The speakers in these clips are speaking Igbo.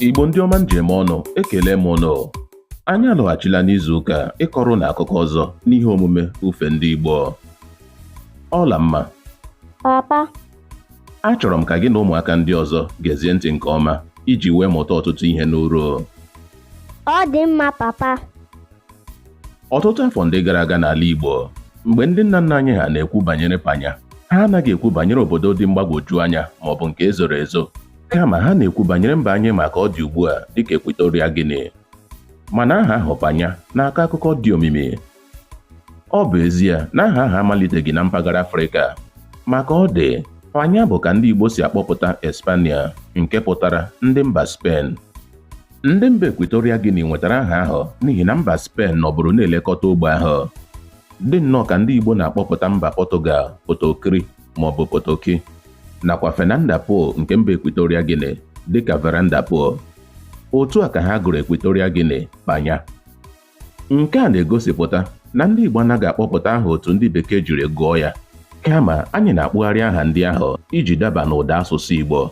Igbo ndị ọma m ji eme ọnụ ekele m ụnụ anyị alọghachila n'izu ụka ịkọrọ ụnụ akụkọ ọzọ n'ihe omume ufe ndị Igbo Ọlamma papa achọrọ m ka gị na ụmụaka ndị ọzọ gezie ntị nke ọma iji wee mụta ọtụtụ ihe n'uru ọ dị mma papa ọtụtụ afọ ndị gara aga n'ala Igbo mgbe ndị nna nna anyị ha na-ekwu banyere panya ha anaghị ekwu banyere obodo dị mgbagwoju anya ma ọ bụ nke ezoro ezo kama ha na-ekwu banyere mba anyị ma ka ọ dị ugbu a dịka Equatorial Guinea mana aha ahụ panya na-akọ akụkọ dị omimi ọ bụ ezie na aha ahụ amaliteghị na mpaghara Afrịka ma ka ọ dị panya bụ ka ndị Igbo si akpọpụta Espania nke pụtara ndị mba Spen ndị mba Equatorial Guinea nwetara aha ahụ n'ihi na mba Spen nọbụrụ na-elekọta ogbe ahụ dị nnọọ ka ndị Igbo na-akpọpụta mba Pọtụgal Potokiri maọbụ Potoki nakwa Fernanda Po nke mba Equatorial Guinea dịka Veranda Po. Otu a ka ha gụrụ Equatorial Guinea Panya. Nke a na-egosipụta na ndị Igbo anaghị akpọpụta aha otu ndị Bekee jiri gụọ ya kama anyị na-akpụgharị aha ndị ahụ iji daba n'ụda asụsụ Igbo.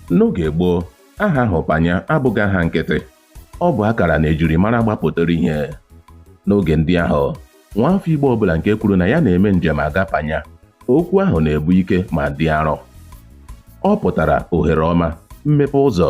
N'oge gboo, aha ahụ Panya abụghị aha nkịtị Ọ bụ akara na ejirimara gbapụtara ihe n'oge ndị ahụ. Nwaafọ Igbo ọbụla nke kwuru na ya na-eme njem aga Panya, okwu ahụ na-ebu ike ma dị arọ. Ọ pụtara ohere ọma, mmepe ụzọ.